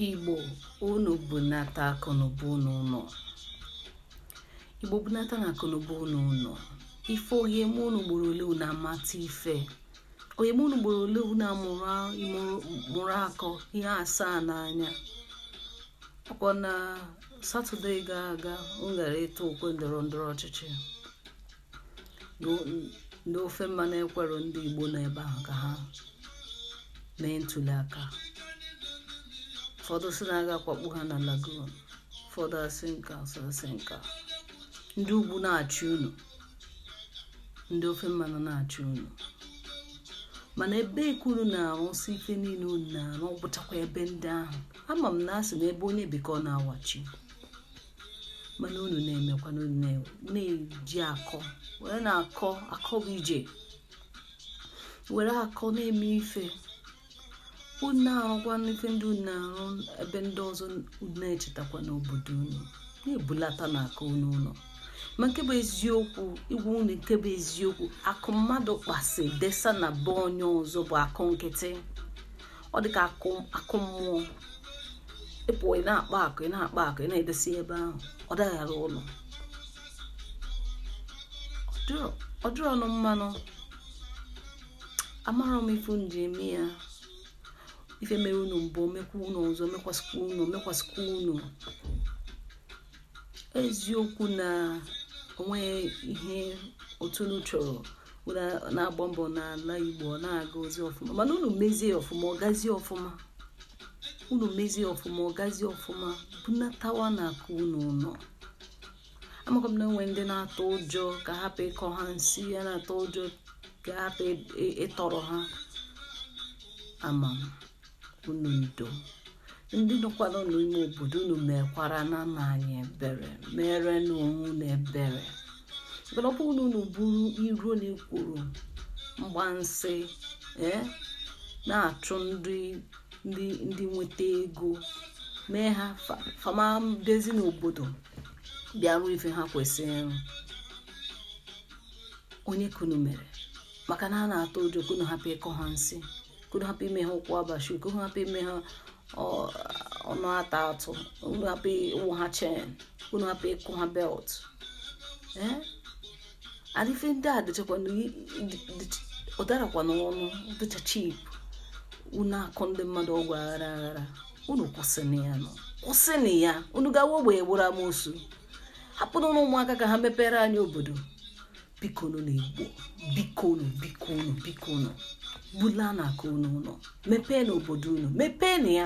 Igbo unu bunata akụnụba unu ụlọ Igbo bunatanụ akụnụba unu ụlọ ife ọ ga-eme unu ugboro ole unu amata ife ọ ga-eme unu ugboro ole unu amụrụ akọ ihe asaa n'anya ọkwa na satọde gara aga m gara ịtụ okwe ndọrọ ndọrọ ọchịchị ndị ofe mmanụ ekwerọ ndị Igbo nọ ebe ahụ ka ha mee ntuli aka ụfọdụ sị na a ga-akwakpu ha na lagoon ụfọdụ asị nka asị nka ndị ugwu na-achị unu ndị ofe mmanụ na-achị unu mana ebe ka unu na-arụsị ife niile unu na-arụ ọ bụchakwa ebe ndị ahụ ama m na a sị na ebe onye bi ka ọ na-awachi mana unu na-emekwana unu na-eji akọ werenụ akọ akọ bụ ije were akọ na-eme ife unu arụkwa n'ife ndị unu na-arụ ebe ndị ọzọ na-echetakwanụ obodo unu na-ebulatanụ akụ unu ụlọ ma nke bụ eziokwu ịgwa unu nke bụ eziokwu akụ mmadụ kpasị desa na be onye ọzọ bụ akụ nkịtị ọ dị ka akụ mmụọ ịpụ ị na-akpa akụ ị na-akpa akụ ị na-edesi ebe ahụ ọ daghara ụlọ ọ dịrọ unu mma nụ amarọ m ife m ji eme ya ife mere unu mbụ mekwa unu ọzọ mekwasịkwa unu mekwasịkwa unu eziokwu na onweghị ihe otu unu chọrọ na-agba mbọ n'ala Igbo ọ na-agazi ọfụma mana unu mezie ọfụma ọ gazie ọfụma unu mezie ọfụma ọ gazie ọfụma bunatawanụ akụ unu ụnọ amakwa m na enwe ndị na-atụ ụjọ ka a hapụ ịkọ ha nsi ya na-atụ ụjọ ka a hapụ ịtọrọ ha ama m unu ndo ndị nọkwara n'ime obodo unu mekwaranụ anyị ebere merenụ onwe unu ebere mana ọ bụrụ na bụrụ iro na ekworo mgbansị ee eh, na-achụ ndị ndị ndị nweta ego mee ha fa ama adịzi n'obodo bịa rụọ ife ha kwesịrị ịrụ onye ka unu mere maka na a na-atụ ụjọ ka unu hapụ ịkọ ha nsi ka unu hapụ ime ha ụkwụ abashi ka unu hapụ ime ha ọnụ ata atụ unu hapụ ịwụ ha chain unu hapụ ịkụ ha belt eh? adịfe ndị a dịchakwana ọ darọkwanụ ọnụ dịcha cheap unu akọ ndị mmadụ ọgwụ aghara aghara unu kwụsịnụ ya nụ kwụsịnụ ya unu gawa ogbe egburu amosu hapụrụ ụmụaka ka ha mepere anyị obodo bikonu ndị Igbo bikonu bikonu bikonu bulanụ akụ unu ụlọ mepeenụ obodo unu mepeenụ ya